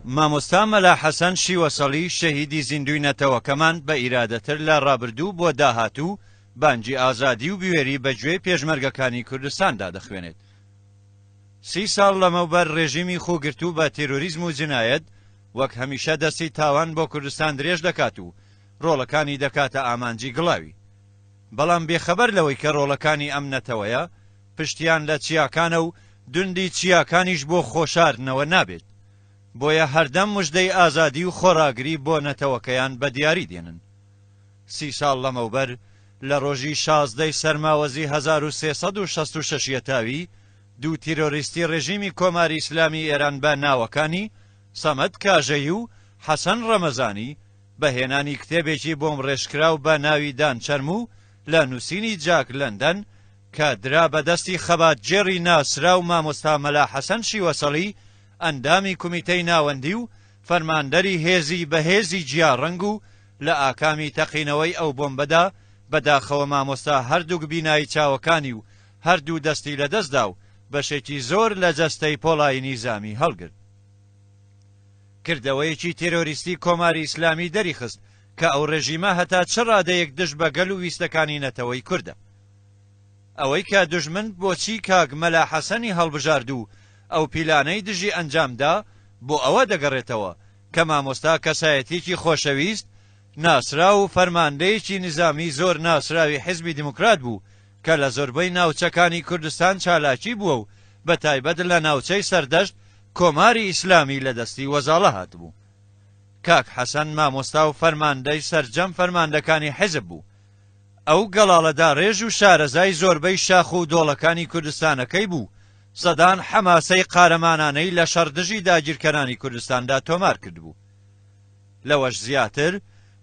مامۆستا مەلا حەسەن شیوەسەڵی شەهیدی زیندووی نەتەوەکەمان بە ئیرادەتر لە ڕابردوو بۆ داهاتوو بانگی ئازادی و بوێری بە گوێی پێشمەرگەکانی کوردستاندا دەخوێنێت. سی ساڵ لەمەوبەر ڕێژیمی خووگرتوو بە تێرۆریزم و جنایەت وەک هەمیشە دەستی تاوان بۆ کوردستان درێژ دەکات و ڕۆڵەکانی دەکاتە ئامانجی گڵاوی. بەڵام بێخەبەر لەوەی کە ڕۆڵەکانی ئەم نەتەوەیە، پشتیان لە چیاکانە و دوندی چیاکانیش بۆ خۆشاردنەوە نابێت. بۆیە هەردەم مژدەی ئازادی و خۆڕاگری بۆ نەتەوەکەیان بە دیاری دێنن. سی ساڵ لەمەوبەر، لە ڕۆژی شازدە ی سەرماوەزی هەزار و سێ سەد و شەست و شەش یەتاوی، دوو تیرۆریستی ڕێژیمی کۆماری ئیسلامی ئێران بە ناوەکانی، سەمەد کاژەیی و حەسەن ڕەمەزانی، بە هێنانی کتێبێکی بۆمبڕێژکراو بە ناوی دان چەرموو لە نووسینی جاک لەندەن، کە درا بە دەستی خەباتگێڕی ناسراو مامۆستا مەلا حەسەن شیوەسەڵی ئەندامی کومیتەی ناوەندی و فەرماندەری هێزی بەهێزی جیا ڕەنگ و لە ئاکامی تەقینەوەی ئەو بۆمبەدا بە داخەوە مامۆستا هەردووک بینایی چاوەکانی و هەردوو دەستی لە دەست دا و بەشێکی زۆر لە جەستەی پۆڵای نیزامی هەڵگرت. کردەوەیەکی تێرۆریستی کۆماری ئیسلامی دەریخست کە ئەو ڕێژیمە هەتا چ ڕادەیەک دژ بە گەل و ویستەکانی نەتەوەی کوردە. ئەوەی کە دوژمن بۆچی کاک مەلا حەسەنی هەڵبژارد و ئەو پیلانەی دژی ئەنجام دا، بۆ ئەوە دەگەڕێتەوە کە مامۆستا کەسایەتیەکی خۆشەویست، ناسراو و فەرماندەیەکی نیزامی زۆر ناسراوی حیزبی دیموکرات بوو کە لە زۆربەی ناوچەکانی کوردستان چالاکی بووە و بە تایبەت لە ناوچەی سەردەشت کۆماری ئیسلامی لە دەستی وەزاڵە هاتبوو. کاک حەسەن مامۆستا و فەرماندەی سەرجەم فەرماندەکانی حیزب بوو. ئەو گەڵاڵە داڕێژ و شارەزای زۆربەی شاخ و دۆڵەکانی کوردستانەکەی بوو، سەدان حەماسەی قارەمانانەی لە شەڕ دژی داگیرکەرانی کوردستاندا تۆمار کردبوو. لەوەش زیاتر،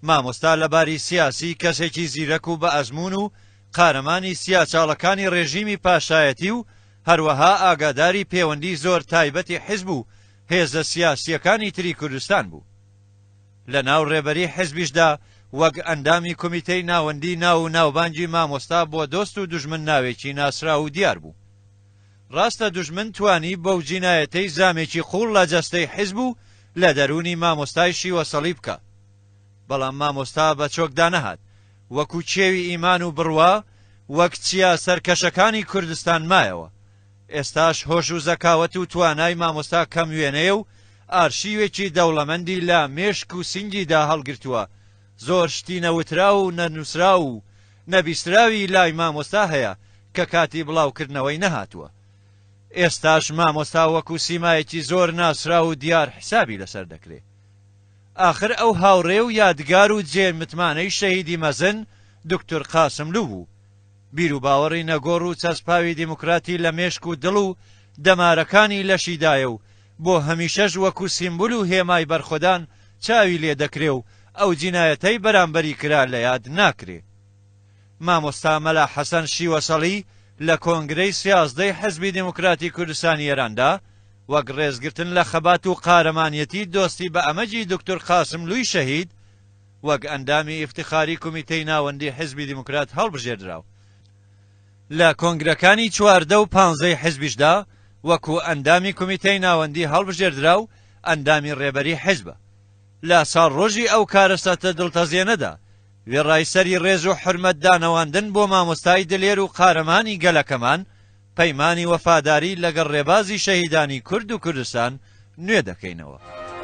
مامۆستا لە باری سیاسی کەسێکی زیرەک و بە ئەزموون و قارەمانی سیاچاڵەکانی ڕێژیمی پاشایەتی و هەروەها ئاگاداری پێوەندی زۆر تایبەتی حیزب و هێزە سیاسییەکانی تری کوردستان بوو. لەناو ڕێبەری حزبیشدا وەک ئەندامی کومیتەی ناوەندی ناو و ناوبانگی مامۆستا بۆ دۆست و دوژمن ناوێکی ناسراو و دیار بوو. ڕاستە دوژمن توانی بەو جینایەتەی زامێکی قووڵ لە جەستەی حزب و لە دەروونی مامۆستای شیوە سەڵی بکا. بەڵام مامۆستا بە چۆک دانەهات. وەکو کێوی ئیمان و بڕوا وەک چیا سەرکەشەکانی کوردستان مایەوە. ئێستاش هۆش و زەکاوەت و توانای مامۆستا کەم وێنەیە و ئارشیوێکی دەوڵەمەندی لە مێشک و سینگیدا هەڵگرتووە، زۆر شتی نەوتراو و نەنووسراو و نەبیستراوی لای مامۆستا هەیە کە کاتی بڵاوکردنەوەی نەهاتووە. ئێستاش مامۆستا وەکو سیمایەکی زۆر ناسراو و دیار حسابی لەسەر دەکرێ. ئاخر ئەو هاوڕێ و یادگار و جێ متمانەی شەهیدی مەزن دوکتور قاسملوو بوو. بیروباوەڕی نەگۆڕ و چەسپاوی دیموکراتی لە مێشک و دڵ و دەمارەکانی لەشیدایە و بۆ هەمیشەش وەکو سیمبول و هێمای بەرخۆدان چاوی لێ دەکرێ و ئەو جینایەتەی بەرامبەری کرا لە یاد ناکرێ. مامۆستا مەلا حەسەن شیوەسەڵی لە کۆنگرەی سیازدەی حیزبی دیموکراتی کوردستانی ئێراندا وەک ڕێزگرتن لە خەبات و قارەمانیەتی دۆستی بە ئەمەجی دوکتور قاسملووی شەهید، وەک ئەندامی ئیفتخاری کومیتەی ناوەندی حیزبی دیموکرات هەڵبژێردرا و لە کۆنگرەکانی چواردە و پانزەی حیزبیشدا وەکو ئەندامی کومیتەی ناوەندی هەڵبژێردرا و ئەندامی ڕێبەری حیزبە. لە ساڵڕۆژی ئەو کارەساتە دڵتەزێنەدا وێڕای سەری ڕێز و حورمەت دانەواندن بۆ مامۆستای دلێر و قارەمانی گەلەکەمان پەیمانی وەفاداری لەگەڵ ڕێبازی شەهیدانی کورد و کوردستان نوێ دەکەینەوە.